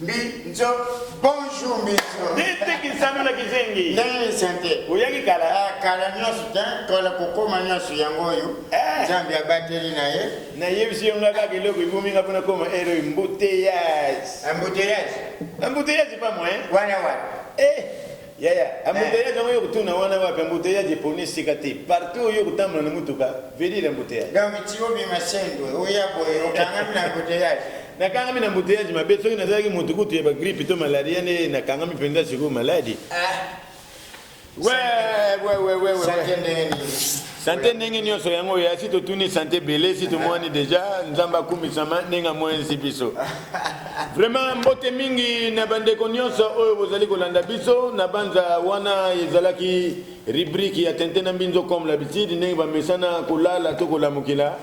Mbinzo, bonjour Mbinzo. Nete kisano na kizengi. Nani sante? Oyaki kala? Ah, kala nyonso te, kala kokoma nyonso yango oyo. Eh. Nzambe abateli na ye. Na yebisi yo nga kaka eloko ebomi nga pona koma ero embouteillage. Embouteillage? Embouteillage pa moyen. Wana wana. Eh. Yaya, embouteillage yango yo kotuna wana wapi? Embouteillage eponi esika te. Partout oyo kotambola na mutuka, veut dire embouteillage. Donc ti obima sendwe, oya boye, okangami na embouteillage? Nakangami na embouteillage mabe, soki nazalaki mutu kutu ya ba grippe to malaria nde nakangami penza sikoyo maladi. Ah! Wewe, wewe, wewe. Sante ndenge nini? Sante ndenge nyonso yango ya si totuni sante ebele si tomwani deja nzambe akumisama ndenge amwensi biso vraiment mbote mingi na bandeko nyonso oyo bozali kolanda biso na banza wana ezalaki rubrike ya tente na mbinzo comme l'habitude ndenge bamesana kolala to kolamukila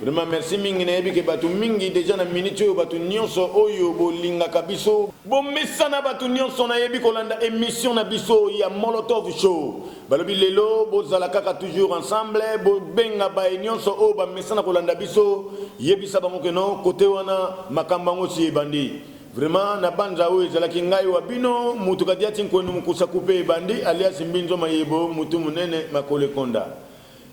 vraiment merci mingi nayebi ke bato mingi deja na miniti oyo bato nyonso oyo bolingaka biso bomesana bato nyonso nayebi kolanda emission na biso ya molotov show Balobi lelo bozala kaka toujours ensemble bobenga baye nionso oyo bamesana kolanda biso yebisa bango que non cote wana makambo yango si ebandi vraiment na banza oyo ezalaki ngai wa bino mutu kadiati nkuendu mukusa kupe ebandi alias mbinzo mayebo mutu munene makolo ekonda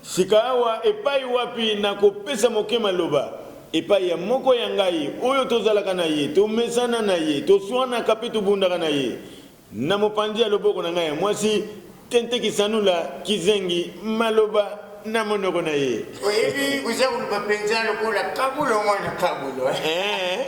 sika awa epai wapi na kopesa moke maloba epai ya moko ya ngai oyo tozalaka na ye tomesana na ye toswanaka pe tobundaka na ye Na mopanzi ya loboko na ngai ya mwasi, Tente Kisanula Kizengi maloba na monoko na ye. Oyebi oza koloba penza lokola kabulo mwana kabulo. Eh.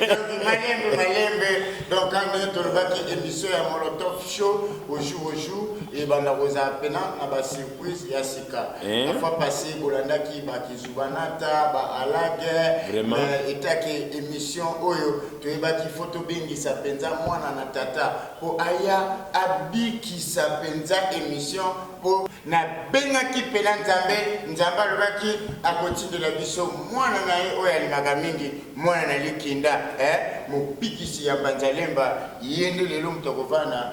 Donc malembe malembe donc quand même tolobaki émission ya Molotov show au jour au jour et banda kozala pena na ba surprise ya sika. Eh. La fois passée bolandaki ba Kizubanata, ba Alage, Vraiment. mais etaki émission oyo Toyebaki faut tobengisa penza mwana na tata po aya abikisa penza emission po nabengaki pena nzambe nzambe alobaki akotindela biso mwana na ye oyo alingaka mingi mwana na likinda eh, mobikisi ya mbanzalemba ye nde lelo moto akovana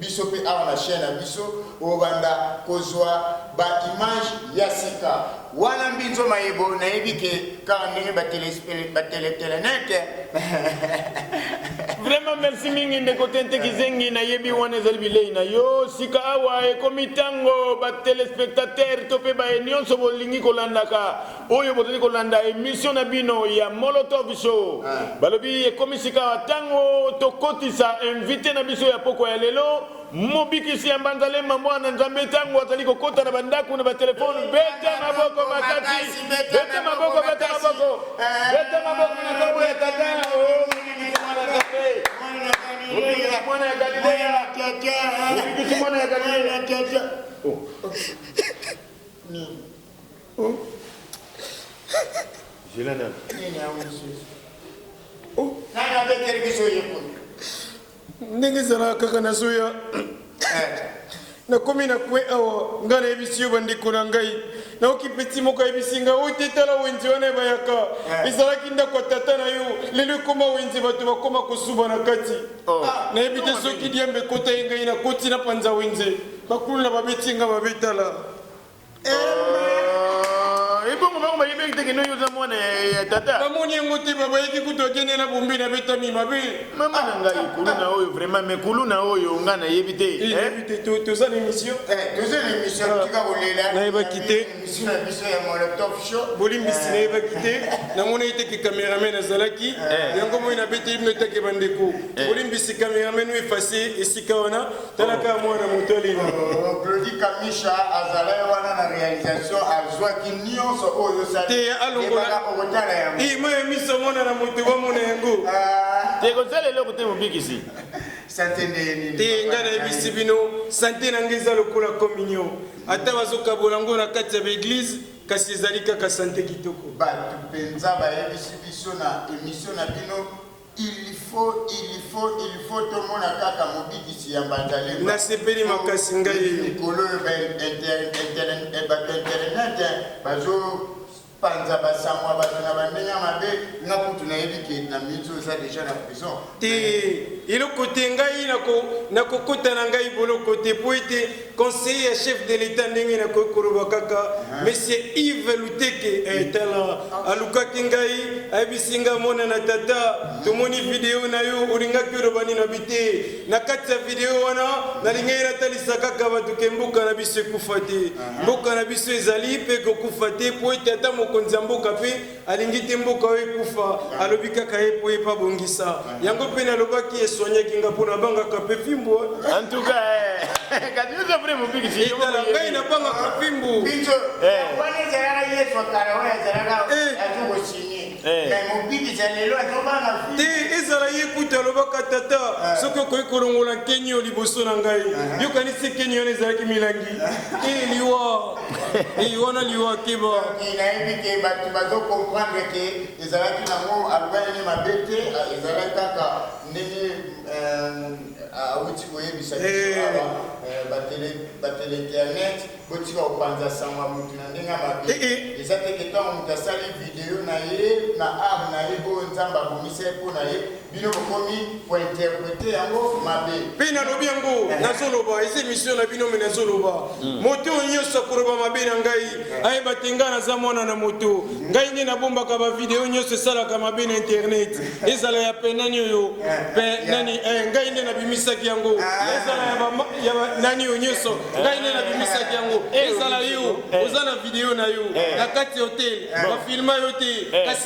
biso pe awa na chaine na biso obanda kozwa ba image ya sika wana mbinzo mayebo nayebi ke kaka ndenge bateletelenete vraiment merci mingi ndeko tente kizengi nayebi wana ezali bilei na yo sika awa ekomi ntango batelespectateur to mpe baye nyonso bolingi kolandaka oyo bozali kolanda emission na bino ya molotov show ah. balobi ekomi sikawa ntango tokotisa invité na biso ya pokwa ya lelo mobikisi ya mbanzalemba mwana nzambe ntango azali kokota na bandako na batelefone beta maboko makasi beta maboko beta maboko eh. beta maboko na nkombo ya tata obikisi mwana ya galilea obikisi mwana ya galilea ndenge ezalaka kaka nazoya eh. nakomi na kwe awa ngai nayebisi yo bandeko na ngai naoki peti moko ayebisi ngai oyo te tala wenze wana ebayaka eh. ezalaki ndako ya tata na yo lelo ekoma wenze bato bakoma kosuba na kati oh. ah, nayebi te soki diambe ekota ye ngai nakoti na panza wenze bakulu na babeti ngai babetala bamoni yango te babayaki kutu akende na bombe na betami mabe mama na ngai kuluna oyo vraiment mais kuluna oyo nga nayebi te yebi te to- toza na émission toza na émission tika kolela Nayebaki te. émission na biso ya molotov show bolimbisi nayebaki te namona ye teke cameraman azalaki yango moi nabeteli bino etake bandeko bolimbisi cameraman oyo efase esika wana talaka mwana moto elinga oh, glodi kamisha azala ye wana na réalisation azwaki nyonso oyo te alongola okotala yango ima ya miso mona na moto bamona yango ah. te kosala eloko te mobikisi sante nde ye nini te ngai nayebisi bino sante na ngai eza lokola communion ata bazokabola yango na kati ya baeglize kasi ezali kaka sante kitoko bato mpenza bayebisi biso na emisio na bino Ilifaux ilifaux ilifaux tomona kaka mobikisi ya mbanzalemba. Nasepeli makasi ngai. Mikolo oyo ba internet ba internet bazo panza basango ya bato na bandenge ya mabe nga kutu nayebi ke na miniti oyo eza deja na prison te eloko te ngai nakokota na ngai boloko te po ete Conseiller ya chef de l'etat ndenge nakoki koloba kaka monsieur Yves Luteke eh, tala alukaki ngai ayebisi ngai mwana na tata tomoni video na yo olingaki oloba nini abi te na kati ya video wana nalingaki natalisa kaka bato ke mboka na biso ekufa te mboka na biso ezali mpe kokufa te mpo ete ata mokonzi ya mboka mpe alingi te mboka oyo ekufa alobi kaka ye mpo ye mpe abongisa yango mpe nalobaki eswanyaki nga mpo nabangaka mpe fimbu antuka etala ngai nabangaka fimbu Eh. te ezala ye kutu alobaka tata eh. soki okoki kolongola nkeni oyo liboso na ngai eh. yokanisi nkeni wana ezalaki milangi eliwa Eyi wana liwa keba. Ki nayebi ke bato bazo comprendre ke ezalaki nango alobaki nini mabe te ezalaki kaka ndenge euh, awuti koyebisa biso eh. awa euh, batele batele internet botika kopanza sango ya motu na ndenge ya mabe eh, eh. eza te ke ntango moto asali video na ye na art na ye oyo nzambe abomisa ye mpo na ye bino bokomi kointerprete yango mabe mpe nalobi yango nazoloba eza emisio na bino me nazoloba hmm. moto oyo nyonso akoloba mabe na ngai eh. ayeba te ngai naza mwana na moto hmm. ngai nde nabombaka bavideo nyonso esalaka mabe na internet eh. ezala ya pe nani oyo eh, pe nani ngai nde nabimisaki yango ezala ya nani oyo nyonso ngai nde nabimisaki yango ezala yo oza na video na yo na kati hotel bafilma yo te kasi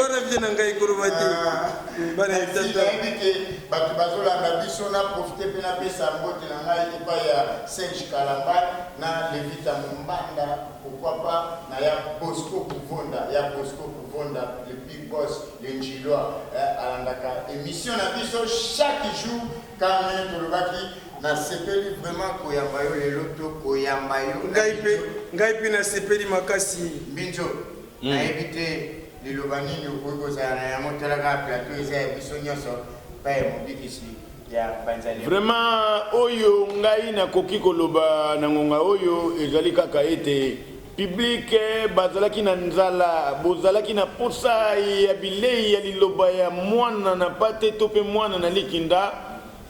wana vie na ngai koloba te bato bazolanda biso na profite mpe napesa mbote na ngai epai ya serge kalamba na levita mombanda kokwapa na ya bosco kuvonda ya bosco kuvonda le big boss le njilois eh, alandaka émission na biso chaque jour Carmen tolobaki nasepeli vraiment koyamba yo lelo to koyamba yo ngai mpe ngai mpe nasepeli makasi mbinzo hmm. nayebi te liloba nini okoki kozala na yango talaka plateau eza ya biso nyonso epai ya mobikisi ya banzali vraiment oyo ngai nakoki koloba na ngonga oyo ezali kaka ete Piblike bazalaki na nzala, bozalaki na mposa ya bilei ya liloba ya mwana na mpate to mpe mwana na likinda,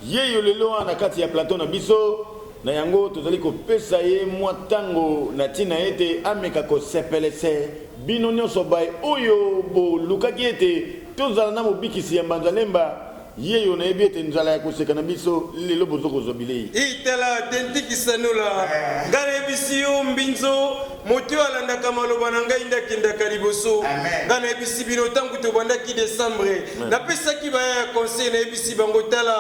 ye yo lelo awa na kati ya plateau na biso, na yango tozali kopesa ye mwa ntango na ntina ete ameka kosepelese bino nyonso baye oyo bolukaki ete tozala na mobikisi ya mbanzalemba Ye yo nayebi ete nzala ya koseka na biso lelo bozo kozwa bilei. Hii tala Denti Kisanola nga nayebisi yo mbinzo moto oyo alandaka maloba na ngai nde akendaka liboso nga nayebisi bino ntango tobandaki decembre napesaki baya ya conseil nayebisi bango tala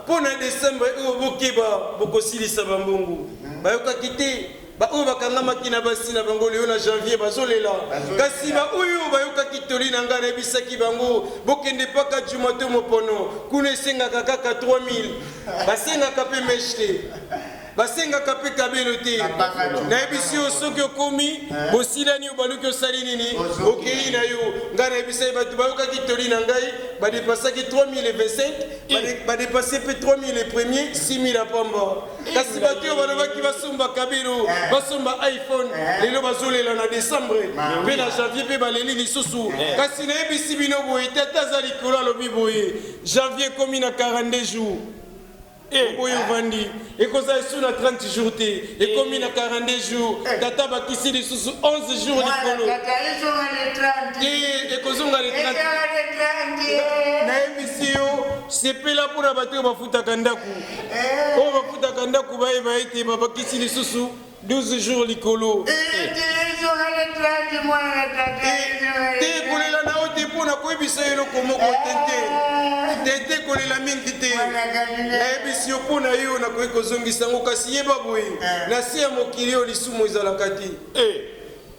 mpo na decembre oyo bokeba bokosilisa bambongo bayokaki te Baoyo bakangamaki na basi na bango lelo na janvier bazolela, kasi baoyo bayokaki toli na ngai nayebisaki bango bokende mpaka Juma to Mopono, kuna esengaka kaka 3000 basengaka mpe meshe te basengaka mpe kabelo te nayebisi yo soki okomi eh. bosilani yo baluki osali nini okei na yo ngai nayebisa ye bato bayokaki toli na ngai badepasaki 3025 badepase mpe 3000 premier 6000 apamba kasi bato oyo balobaki basomba kabiru eh. basomba iphone eh. lelo bazolela na décembre mpe na janvier mpe baleli lisusu eh. kasi nayebisi bino boye te ata aza likolo alobi boye janvier ekomi na 42 jours oyo ovandi ekozala esu na 30 jours te ekomi na 42 jours tata bakisi lisusu 11 jours likolo ekozonga le 30 nayebisi yo sepela mpo na bato oyo bafutaka ndako oyo bafutaka ndako bayeba ete babakisi lisusu 12 jours likolo te kolela na yo te mpo na koyebisa yo eloko moko te te te te kolela mingi te nayebisi yo mpo na yo nakoki kozongisa yango kasi yeba boye na se ya mokili oyo lisumu ezalaka te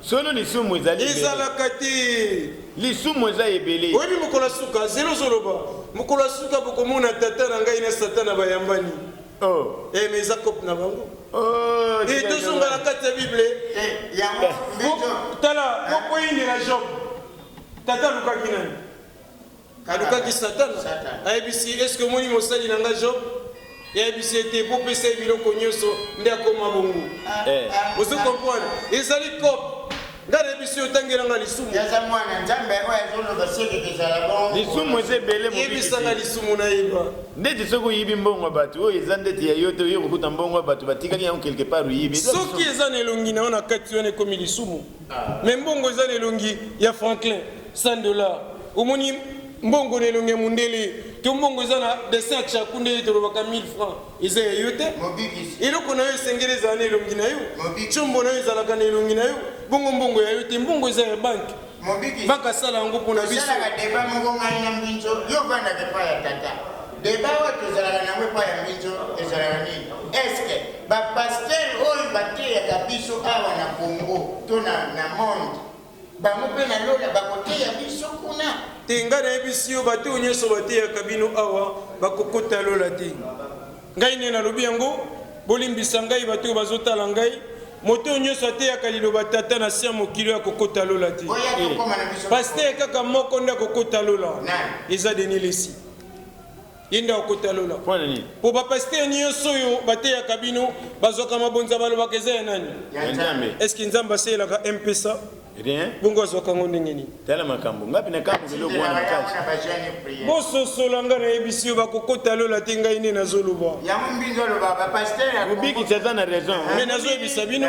Solo lisumu ezali ebele. Ezalaka te. Lisumu eza ebele. Oyebi mokolo ya suka? Zela ozoloba. Mokolo ya suka bokomona tata na ngai na satana bayambani. Oh. Eh, mais eza cope na bango. Oh, Et tika tozonga na yango. kati ya Bible. Eh, yango Bo- nde Tala, bokweyindela Job. Tata alukaki nani? Alukaki Satana. Satana. Ayebisi ye, Eske omoni mosali na ngai Job? Ye ayebisi ye te, mpo pesa ye biloko nyonso nde akoma bongo. Eh. Ozo comprendre? Ezali coop. Ngai nayebisi yo, otangela ngai lisumu. Yaza mwana Nzambe oyo azoloba seke kezala bongo. Lisumu eza ebele Yebisa ngai mobikisi. lisumu nayeba. Ndeti soki oyibi mbongo ya bato oyo eza ndeti ya yo te oye kokuta mbongo ya bato batikaki yango quelque part oyibi. Eza Soki lisumu. eza na elongi na yo na kati, wana ekomi lisumu. Mais mbongo eza na elongi ya Franklin 100 dollars. Omoni mbongo na elongi ya mundele to mbongo eza na dessin ya chaku nde tolobaka 1000 francs eza ya yo te. Eloko na yo esengeli ezala na elongi na yo. Chombo na yo ezalaka na elongi na yo. Bongo mbongo ya yo te, mbongo eza ya banki. Bakasala yango pona biso. Osalaka debat moko ngai na mbinzo, yo ovandaka epai ya tata. Debat oyo tozalaka na yango epai ya mbizo ezalaka nini? Eske bapastere oyo bateyaka biso awa na Congo to na, na monde bango mpe na lola bakoteya biso kuna? Te, ngai nayebisi yo, bato oyo nyonso bateyaka bino awa bakokota lola te. Ngai nde nalobi yango, bolimbisa ngai bato oyo bazotala ngai moto oyo nyonso ateyaka liloba tata na sia mokili oyo akokota lola te eh. paster kaka moko nde akokota lola eza deni lesi Yende akotalola. Mpo na nini? Mpo bapastere nyonso oyo bateyaka bino bazwaka mabonza balobaka eza ya nani? Ya Nzambe. Eske Nzambe asalelaka mpesa? Rien. Bongo azwaka yango ndenge nini? Tala makambo ngai mpe nakambo eloko wana makasi. Bososola ngai nayebisi yo bakokota lola te ngai nde nazoloba. Yango mbinzo aloba bapastere ya Congo. Mobikisi aza na raison. Mais nazoyebisa bino.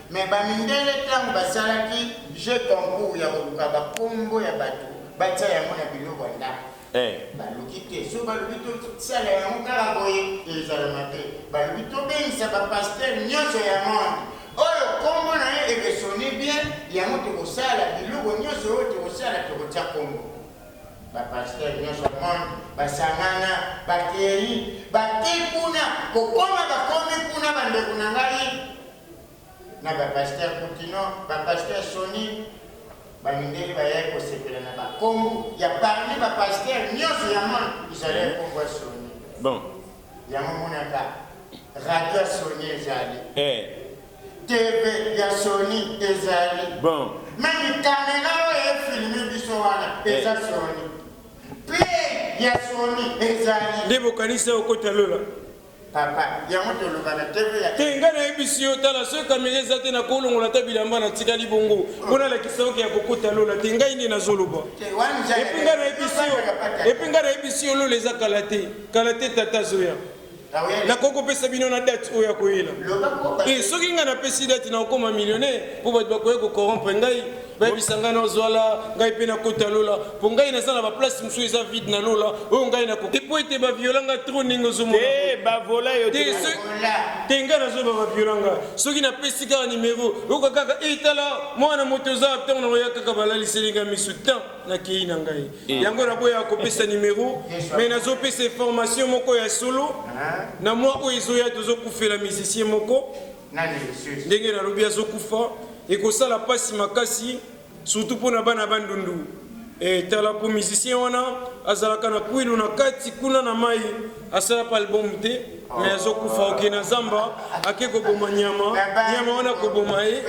Mais ba mindele tango basalaki jeux concours ya koluka ba kombo ya batu batia yango na biloko ya ndako eh. baluki te so balobi tosala yango kaka boye ezala mabe balobi tobengisa bapastere nyonso ya monde oyo kombo na ye ekesoni bien yango tokosala biloko nyonso oyo tokosala tokotya kombo bapastere nyonso monde basangana bakei bake kuna kokoma bakomi kuna bandeko na ngai na ba pasteur Poutino, ba pasteur Sony, ba mindele ba yaki kosepela na ba kombo ya parmi ba pasteur nionso ya monde izali ya kombo ya Sony. Bon. Yango monaka radio ya Sony ezali. Eh. TV ya Sony ezali. Bon. Meme kamera oyo efilme biso wana eh. eza Sony. Play ya Sony ezali. Nde bokanisa okota lola. Papa yango toloba na TV ya te nga nayebisi yo tala soki kamera eza te nakolongola ata bilamba natikali bongo oh. mpo nalakisa yoke ya kokota lola te ngai nde nazoloba epi nga nayebisi yo epi nga nayebisi yo lola eza kala te kala te tata azoya ah nakoki kopesa bino na date oyo ya koyela e soki ngai napesi date nakokoma millionnaire mpo bato bakoya kokorompre ngai bayebisa ngai nazwala ngai mpe nakota lola mpo ngai naza na baplace mosusu eza vide na lola oyo ngai nakoki mpo ete baviola ngai tro ndenge ozomona te ngai nazoba baviola ngai soki napesi kaka nimero oyoka kaka etala eh, mwana moto eza ntango nakoya kaka balaliseli ngai misu tan nakei na ngai eh. yango naboyaka kopesa nimero mai nazopesa information moko ya solo ah. na mwa oyo ezoya tozokufela musicien moko Ndenge nalobi azo kufa ekosala pasi makasi surtout pona bana bandundu e, tala po musicien wana azalaka na kwilu na kati kuna na mai asala pa album te me azokufa oke na zamba ake koboma nyama nyama wana koboma ye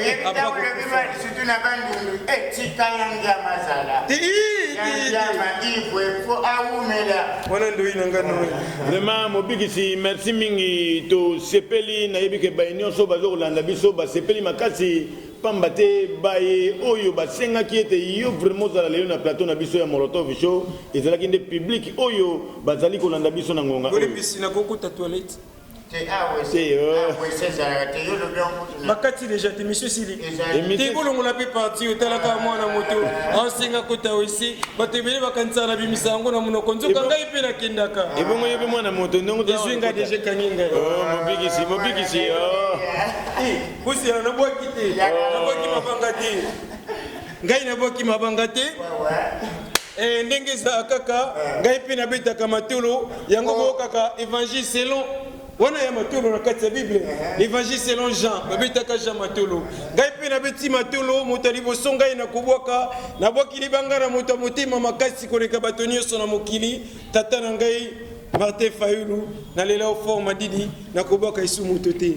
wana ndoi na ngai Vraiment mobikisi merci mingi tosepeli nayebi ke baye nyonso bazo kolanda biso basepeli makasi pamba te baye oyo basengaki ete yo vraiment ozala lelo na plateau na biso ya molotov show ezalaki nde public oyo bazali kolanda biso na ngonga olimbisi nakokuta toilette bakati deja te monsieur sili te bolongola mpe parti otalaka mwana moto asenga kota osi bato ebele bakanisaka na bimisa yango na monoko nzoka ngai mpe nakendaka ebongo yo mpe mwana moto ndongoezwi ngai deja ekangi ngai oh, mobikisi mobikisi oh. eh, kusela nabwaki te nabwaki mabanga te ngai nabwaki mabanga te eh, ndenge ezala kaka eh. ngai mpe nabetaka matolo yango oh. boyokaka évangile selon wana ya matolo na kati ya bible eh. évangile selon jean babetaka jean matolo ngai mpe nabeti matolo moto ya liboso ngai nakobwaka nabwaki libanga na moto ya motema makasi koleka bato nyonso na mokili tata na ngai martin fayulu nalela ofort madidi nakobwaka esu moto te